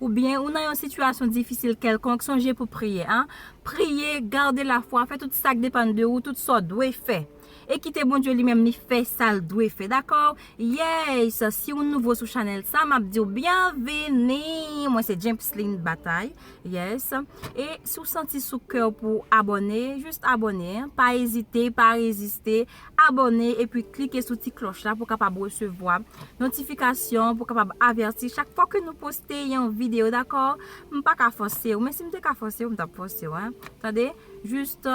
Oubyen ou nan yon sitiyasyon difisil kèlkonk, sonje pou priye a. Priye, gade lafwa, fè tout sa k depann de ou, tout sa w dwe fè. E kite Bondye li menm li fè sa l dwe fè. Dakò? Yes! Si w nouvo sou chanèl sa, m ap di w byenvini! Mwen se Jemsline Bataille. Yes! E si w santi sou kè w pou w abòne, just abòne. Pa ezite, pa reziste. Abòne epi klike sou ti klòch la pou kapab resevwa notifikasyon pou kapab avèti chak fwa ke nou poste yon video dakò m paka fòsew men sim te ka fòsew m tap fòsew tande just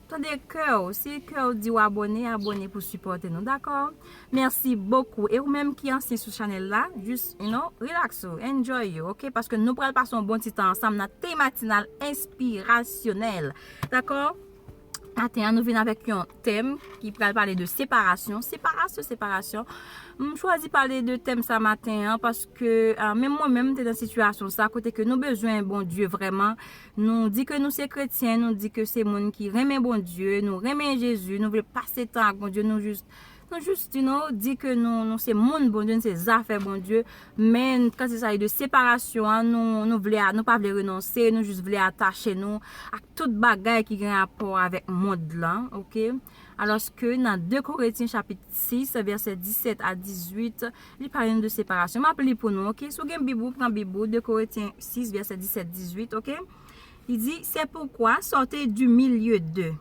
tande kèw si kèw diw abòne abòne pou sipòte nou dakò mèsi bokou e ou menm ki ansyen sou chanèl la just you know relax ou enjoy you ok paske nou pral pase yon bon ti tan ansanm nan thé matinal enspirasyonèl dakò. Maten an nou vin avèk yon tèm ki pral pale de separasyon. Separasyon, separasyon. M chwazi pale de tèm sa maten an paske menm mwen menm m te nan sitiyasyon sa kote ke nou bezwen Bondye vrèman. Nou di ke nou se kretyen, nou di ke se moun ki renmen Bondye, nou renmen Jezi, nou vle pase tan ak Bondye nou jis. Nou just you know di ke nou nou se moun Bondye nou se zafè Bondye men kan se sagi de separasyon an nou nou vle nou pa vle renonse nou just vle atache nou ak tout bagay ki gen rapò avèk mond lan ok alòske nan 2 Koretyen chapit 6 vèsè 17 a 18 li pale nou de separasyon map li pou nou ok si w gen bib ou pran bib ou 2 Koretyen 6 vèsè 17 18 ok li di se poukwa sòte du milieu d'eux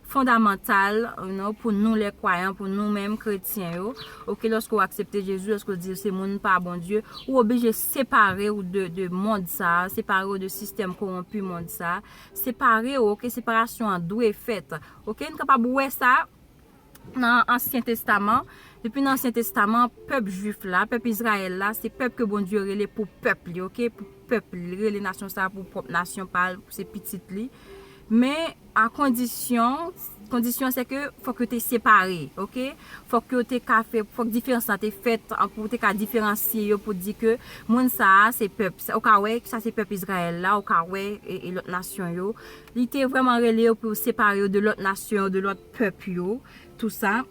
fondamantal you know pou nou lè kwayan pou nou menm kretyen yo ok lòske ou aksepte Jezi lòske ou di ou se moun pa Bondye ou oblije separe ou de mond sa separe ou de sistèm kowonpi mond sa separe ou ok separasyon an dwe fèt ok nou kapab wè sa nan ansyen testaman depi nan ansyen testaman pèp jwif la pèp Izrayèl la se pèp ke Bondye rele pou pèp li ok pou pèp li li rele nasyon sa pou pwòp nasyon pal pou se pitit li men. A kondisyon, kondisyon se ke fòk yo te separe, ok. Fòk yo te ka fè, fòk diferans la te fèt pou ou te ka diferansye yo pou di ke moun sa a se pèp, ou ka wè sa se pèp Izrayèl la, ou ka wè e lòt nasyon yo. Li te vrèman rele yo pou yo separe yo de lòt nasyon yo, de lòt pèp yo, tou sa.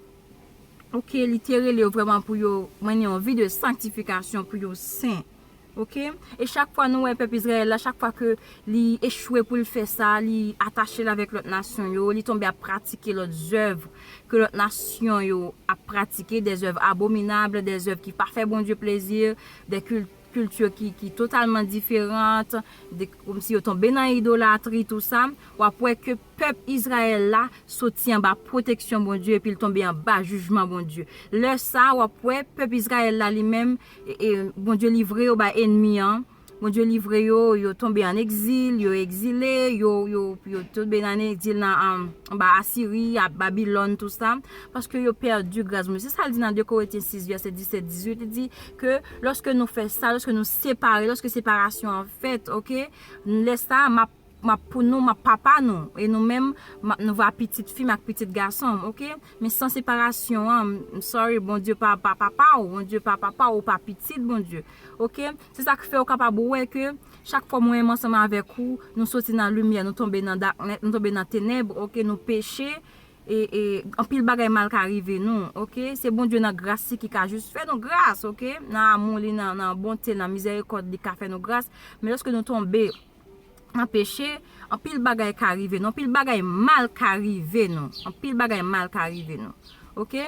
Ok, li te rele yo vrèman pou yo mennen yon vi de sanktifikasyon, pou yo sen. Ok e chak fwa nou wè pèp Izrayèl la chak fwa ke li echwe pou l fè sa li atache l avèk lòt nasyon yo li tonbe ap pratike lòt zèv ke lòt nasyon yo ap pratike dè zèv abominab dè zèv ki pa fè Bondye plezi dè kilti ki totalman diferant kòmsi yo tonbe nan idolatri tou sa w ap wè ke pèp Izrayèl la soti anba pwoteksyon Bondye epi l tonbe anba jijman Bondye lè sa w ap wè pèp Izrayèl la li menm Bondye livre yo bay enmi an, Bondye livre yo, yo tonbe an egzil, yo egzile, yo tonbe nan egzil nan anba Asiri, Babilòn, tout sa, paske yo pèdi gras Bondye. Se sa l di nan 2 Koretyen 6 vèsè 17, 18, li di ke lòske nou fè sa, lòske nou separe, lòske separasyon an fèt, ok, lè sa a m ap M ap pou nou, m ap papa nou, e nou menm, m ap nou va pitit fi m ak pitit gason m, ok? Men san separasyon an, m sorry, Bondye pa papa w, Bondye pa papa w, ou pa pitit Bondye, ok? Se sa k fè ou kapab wè ke chak fwa mwen menm ansanm avèk ou, nou soti nan limyè, nou tonbe nan daknèt, nou tonbe nan tenèb, ok? Nou peche, e, e, anpil bagay mal ka rive nou, ok? Se Bondye nan gras li ki ka jis fè nou gras, ok? Nan amou li, nan, nan bonte l, nan mizèrikòd li, li ka fè nou gras, men lòske nou tonbe. nan peche, anpil bagay ka rive nou, anpil bagay mal ka rive nou, anpil bagay mal ka rive nou, ok,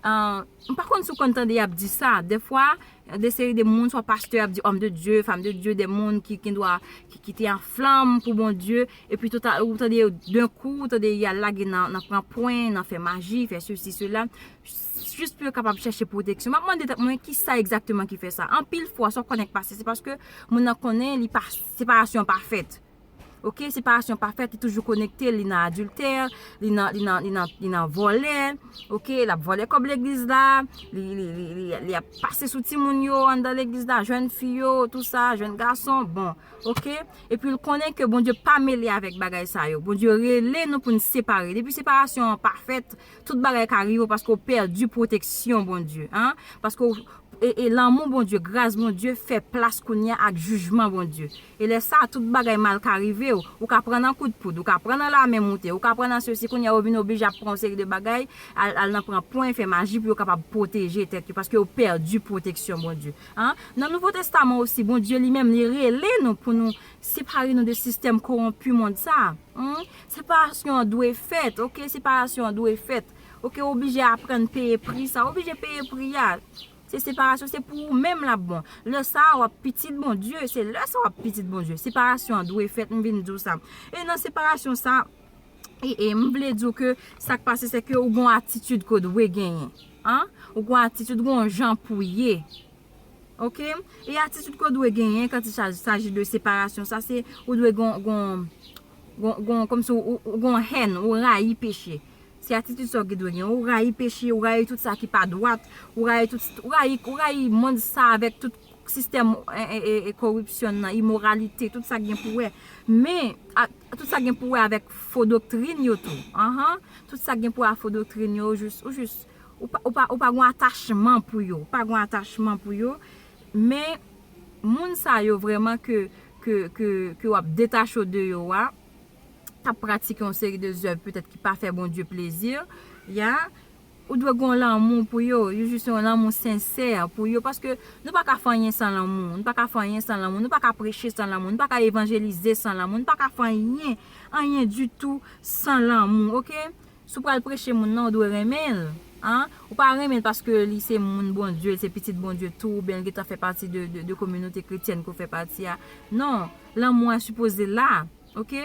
m pa konn si w konn tande y ap di sa, defwa, de seri de moun, swa pastè ap di, òm de Dye, fanm de Dye, de moun ki gen dwa, ki te an flanm pou Bondye, epi tout a, ou tande yo, denkou, ou tande y al lage nan pran pwen, nan fè maji, fè sesi, sela, jis pou yo kapab chèche pwoteksyon. M ap mande tèt mwen ki sa egzakteman ki fè sa. Anpil fwa, sa w konnen k pase, se paske moun nan konnen li pa, separasyon an pa fèt. Ok, separasyon an pa fèt, li toujou konekte, li nan adiltè, li nan, li nan, li nan, li nan vòlè, ok, l ap vòlè kòb legliz la, li, li, li, li, li ap pase sou timoun yo anndan legliz la, jèn fi yo, tou sa, jèn gason, bon, ok. Epi l konnen ke Bondye pa mele avèk bagay sa yo. Bondye rele nou pou n separe. Depi separasyon an pa fèt, Tout bagay ka rive w paske w pèdi pwoteksyon Bondye an, paske w e lanmou Bondye, gras Bondye fè plas kounye a ak jijman Bondye. E lè sa a tout bagay mal ka rive w, ou ka pran nan kout poud, ou ka pran nan lame moute, ou ka pran nan sesi, kounye a yo vin oblije ap pran yon seri de bagay, al nan pran pwen, fè maji pou yo kapab pwoteje tèt yo, paske yo pèdi pwoteksyon Bondye an. Nan Nouvo Testaman osi, Bondye li menm li rele nou pou nou separe nou de sistèm kowonpi mond sa a. Separasyon an dwe fèt ok separasyon an dwe fèt ok ou oblije aprann peye pri sa ou oblije peye pri a se separasyon se pou ou menm lap bon lè sa a wap pitit Bondye se lè sa a wap pitit Bondye separasyon an dwe fèt m vin di w sa e nan separasyon sa e m vle di w ke sak pase se ke ou gon atitid ke w dwe genyen an ou gon atitid ou gon jan pou w ye ok e atitid ke w dwe genyen kan ti saji de separasyon sa se ou dwe gon gon Gon, kòmsi ou gon hèn, ou rayi peche. Se atitid sa w ki dwe gen. Ou rayi peche, ou rayi tout sa ki pa dwat, ou rayi tout, ou rayi, ou rayi mond sa avèk tout sistèm koripsyon nan, imoralite, tout sa ki gen pou wè. Men, tout sa ki gen pou wè avèk fo doktrin yo tou. Anhan, tout sa ki gen pou wè ak fo doktrin yo, ou jis, ou jis, ou pa, ou pa, ou pa gon atachman pou yo. Ou pa gon atachman pou yo. Men, moun sa yo vrèman ke ke w ap detache w de yo a, k ap pratike yon seri de zèv petèt ki pa fè Bondye plezi, ya, ou dwe gen yon lanmou pou yo, yon jis yon lanmou sensè pou yo, paske nou pa ka fè anyen san lanmou, nou pa ka fè anyen san lanmou, nou pa ka preche san lanmou, nou pa ka evanjelize san lanmou, nou pa ka fè anyen, anyen ditou san lanmou, ok? Si w pral preche moun nan ou dwe renmen l an, ou pa renmen l paske li se moun Bondye, li se pitit Bondye tou oubyen li gentan fè pati de kominote kretyèn ke w fè pati a. Non, lanmou a sipoze la, ok.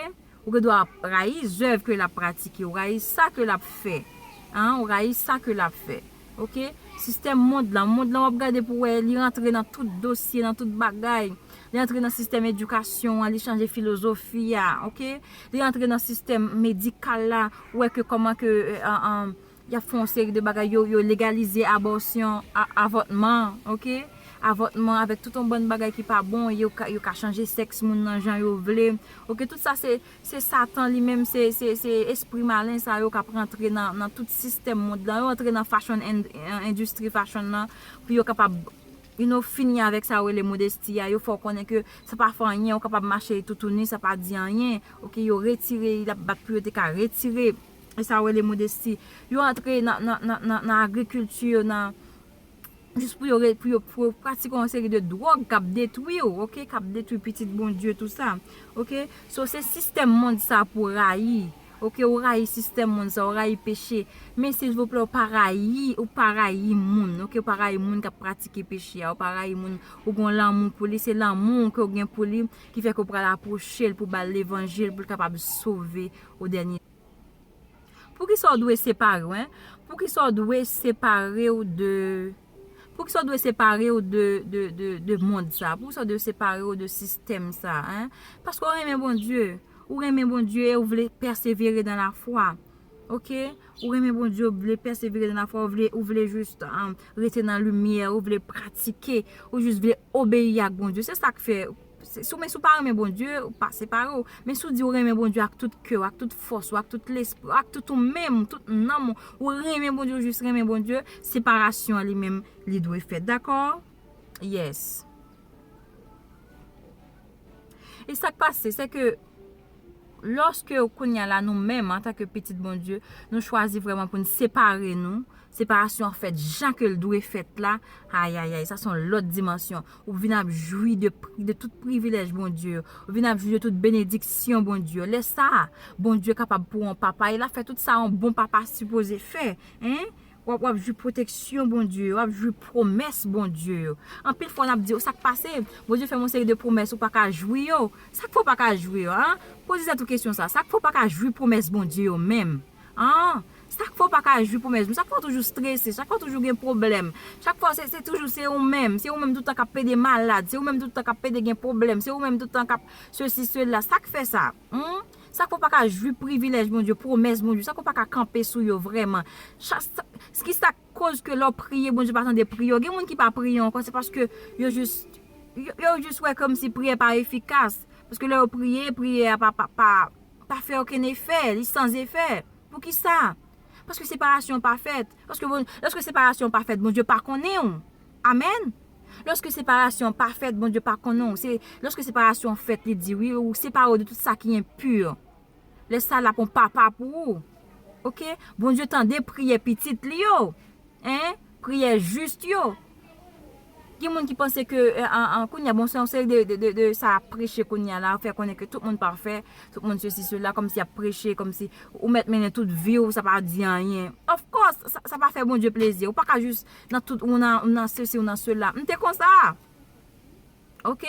Ou gen dwa rayi zèv ke l ap pratike, ou rayi sa ke l ap fè, an, ou rayi sa ke l ap fè. Ok sistèm mond lan mond lan wap gade pou wè li antre nan tout dosye nan tout bagay li antre nan sistèm edikasyon an li chanje filozofi a ok li antre nan sistèm medikal la ou wè ke kòman ke yap fè yon seri de bagay yo legalize abòsyon avòtman ok avòtman avèk tout yon bann bagay ki pa bon yo ka chanje sèks moun nan jan yo vle ok tout sa se Se satan li menm se se espri malen sa yo kap rantre nan tout sistèm mond lan yo antre nan fashion and endistri fashion lan pou yo kapab you know fini avèk sa yo rele modesti a yo fè w konnen ke sa pa fè anyen ou kapab mache toutouni sa pa di anyen ok yo retire li lap bat pou yo te ka retire sa yo rele modesti yo antre nan nan nan agrikilti yo nan. jis pou yo re pou yo pou yo pratike yon seri de dwòg kap detwi ou ok kap detwi pitit Bondye tou sa ok so se sistèm mond sa pou rayi ok ou rayi sistèm mond sa ou rayi peche men silvouplè ou pa rayi ou pa rayi moun ok ou pa rayi moun kap pratike peche a ou pa rayi moun ou gon lanmou pou li se lanmou ke ou gen pou li ki fè ke ou pral apwoche l pou bal levanjil pou l kapab sove ou dènye. Poukisa w dwe separe w en? Poukisa w dwe separe w de Poukisa w dwe separe w de de mond sa a? Poukisa w dwe separe w de sistèm sa a? Paske w renmen Bondye. Ou renmen Bondye e ou vle pèsevere dan lafwa. Ok? Ou renmen Bondye, ou vle pèsevere dan lafwa, ou vle jis rete nan limyè, ou vle pratike, ou jis vle obeyi ak Bondye. Se sa k fè. Si w men si w pa renmen Bondye, ou pa separe w. Men si w di ou renmen Bondye ak tout kè w, ak tout fòs ou, ak tout lespri w, ak tout ou menm, tout nanm ou, ou renmen Bondye, ou jis renmen Bondye, separasyon an li menm li dwe fèt. Dakò? Yes. E sa k pase, se ke lòske kounye a la nou menm, anta ke pitit Bondye, nou chwazi vreman pou n separe nou, Separasyon an fèt jan ke l dwe fèt la, ayayay, sa se yon lòt dimansyon. Ou vin ap jwi de tout privilèj Bondye yo. Ou vin ap jwi de tout benediksyon Bondye yo. Lè sa a, Bondye kapab pou w yon papa, e l ap fè tout sa yon bon papa sipoze fè. W ap jwi pwoteksyon Bondye yo, w ap jwi pwomès Bondye yo. Anpil fwa, n ap di, sa k pase? Bondye fè m yon seri de pwomès, ou pa ka jwi yo? Sa k fè ou pa ka jwi yo? Poze tèt ou kesyon sa a. Sa k fè ou pa ka jwi pwomès Bondye yo menm? An, chak fwa w pa ka jwi pou mèzmi, chak fwa w toujou strese, chak fwa toujou gen pwoblèm, chak fwa se toujou se ou menm, se ou menm tout tan k ap pede malad, se ou menm tout tan k ap pede gen pwoblèm, se ou menm tout tan k ap sesi sela, sa k fè sa? An, chak fwa w pa ka jwi privilèj Bondye, pwomès Bondye, chak fwa w pa ka kanpe sou yo vrèman, chak sa, ki sa k koz ke lè w priye Bondye pa tande priyè w? Gen moun ki pa priye ankò se paske yo jis, yo jis wè kòmsi priyè pa efikas, paske lè yo priye, priyè a pa, pa, pa. pa fè okenn efè, li san zefè. Poukisa? Paske separasyon an pa fèt. Lòske separasyon an pa fèt, Bondye pa konnen ou. Amèn! Lòske separasyon an pa fèt, Bondye pa konnen ou. Se lòske separasyon an fèt, li di, wi, ou separe ou de tout sa ki enpu. Lè sa l ap yon papa pou ou. Oke? Bondye tande priyè pitit li yo. Hein? Priyè juste yo. Gen moun ki panse ke kounya bon se yon seri de sa ap preche kounya la fè konnen ke tout moun pafè, tout moun sesi sela kòmsi ap preche kòmsi ou mèt mennen tout viw sa pa di anyen. Of course sa pa fè Bondye plezi ou pa ka jis nan tout ou nan sesi ou nan sela. M te konsa. Ok.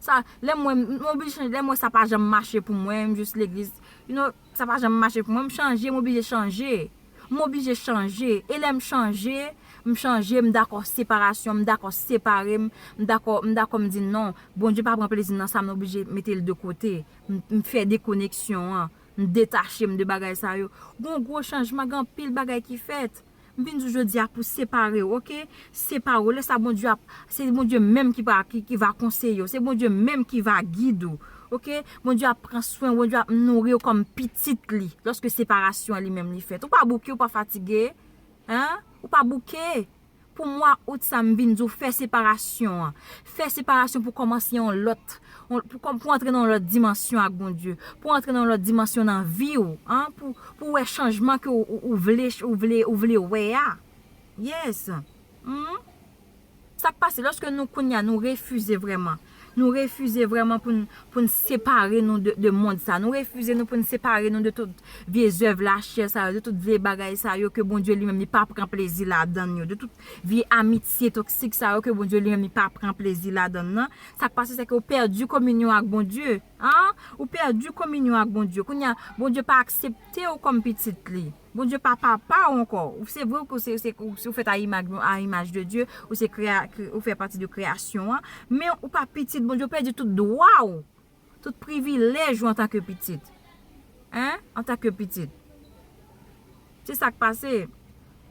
Sa lèm wè m oblije chanje lèm wè sa pa janm mache pou mwen m jis legliz you know sa pa janm mache pou mwen m chanje m oblije chanje m oblije chanje e lèm chanje m chanje m dakò separasyon m dakò separe m m dakò m dakò m di non Bondye pa pran plezi m nan sa m oblije mete l de kote m fè dekoneksyon an m detache m de bagay sa yo gon gwo chanjman gen anpil bagay ki fèt. M vin di w jodi a pou separe w ok, separe w lè sa Bondye ap, se Bondye menm ki va ki va konseye w, se Bondye menm ki va gide w ok, Bondye ap pran swen w, Bondye ap nouri w kòm pitit li lòske separasyon an li menm li fèt. Ou pa bouke, ou pa fatige hein, ou pa bouke pou mwa out sa m vin di w fè separasyon an, Fè separasyon pou kòmanse yon lòt, pou antre nan yon lòt dimansyon ak Bondye, pou antre nan yon lòt dimansyon nan vi ou, pou wè chanjman ke ou vle, ou vle wè a. Yes. Humm. Sa k pase lòske nou kounye a nou refize vrèman, nou refize vrèman pou n separe nou de mond sa, nou refize nou pou n separe nou de tout vye zèv lachè sa yo, de tout vye bagay sa yo ke Bondye li menm li pa pran plezi ladan l yo, de tout Vye amitye toksik sa yo ke Bondye li menm li pa pran plezi ladann nan, sa k pase se ke ou pèdi kominyon ak Bondye. An! Ou pèdi kominyon ak Bondye. Kounye a, Bondye pa aksepte ou kòm pitit li. Bondye pa papa ou ankò. Se vre ke ou fèt a imaj de Dye, ou fè pati de kreyasyon an, men ou pa pitit Bondye, ou pèdi tout dwa ou Tout privilèj ou antanke pitit. Hein? Antanke pitit. Se sa k pase.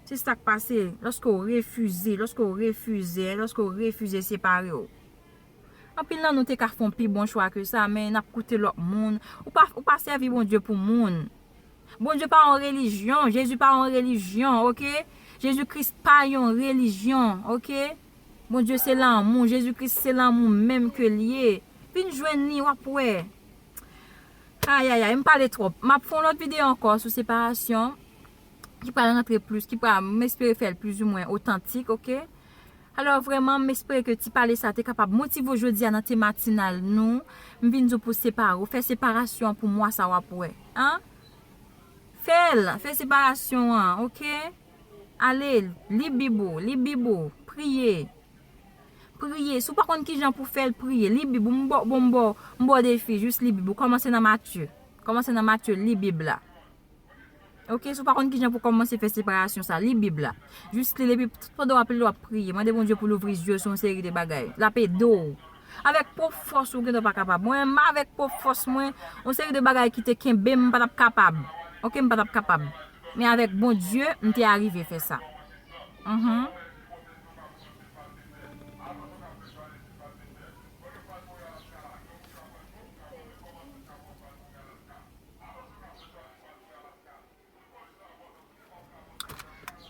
Se sa k pase lòske ou refize, lòske ou refize, lòske ou refize separe ou. Anpil nan nou te ka fon pi bon chwa ke sa, men n ap koute lòt moun. Ou pa, ou pa sèvi Bondye pou moun. Bondye pa yon relijyon. Jezi pa yon relijyon, ok? Jezi Kris pa yon relijyon, ok? Bondye se lanmou. Jezi Kris se lanmou menm ke l ye. Fin jwenn li wap wè. Ayayay m pale twòp. Map fè yon lòt videyo ankò sou separasyon ki pral rantre plis, ki pral, m espere fè l plizoumwen otantik ok. Alò vrèman m espere ke ti pale sa te kapab motive ou jodi a nan te matinal nou. M vin di w pou w separe w, fè separasyon an pou mwa sa wap wè. An! Fè l, fè separasyon an ok. Ale, li bib ou, li bib ou, priye. Priye, si w pa konn kijan pou fè l, priye. Li bib ou, m ba bon m ba w, m ba w defi, jis li bib ou. Kòmanse nan Matye. Kòmanse nan Matye, li bib la. Ok, si w pa konn kijan pou kòmanse fè separasyon sa, li bib la. Jis li l epi tout pandan w ap li l w ap priye. Mande Bondye pou l ouvri zye w sou yon seri de bagay. L ap ede w. Avèk pwòp fòs ou, ou gendwa pa kapab. Mwen menm avèk pwòp fòs mwen, yon seri de bagay ki te kenbe m, m pa t ap kapab. Ok, m pa t ap kapab. Men avèk Bondye, m te arive fè sa. Mh.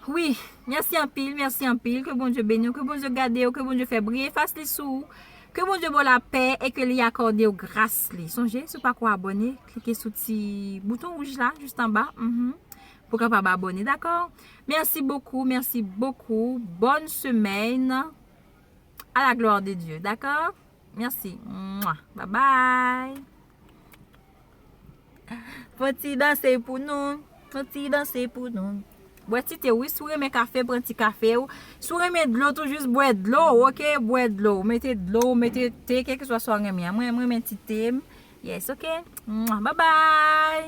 Wi, mèsi anpil, mèsi anpil, ke Bondye beni ou, ke Bondye gade ou, ke Bondye fè briye fas li sou ou, ke Bondye bo la pè, e ke li akòde ou gras li. Sonje, sou pa ko abòne, klike sou ti bouton wouj la, jist anba. Pou kapab abone dako. Merci beaucoup merci beaucoup bonne semaine a la gloire de Dieu dako merci mwa bye bye. Fon ti danse pou nou Fon ti danse pou nou Bwè ti te wi sou renmen kafe pran ti kafe ou Sou renmen dlo tou jis bwè dlo ou ok bwè dlo ou Mete dlo ou mete te kèk sou a sou renmen a Mwen renmen ti te m Yes ok mwa bye bye.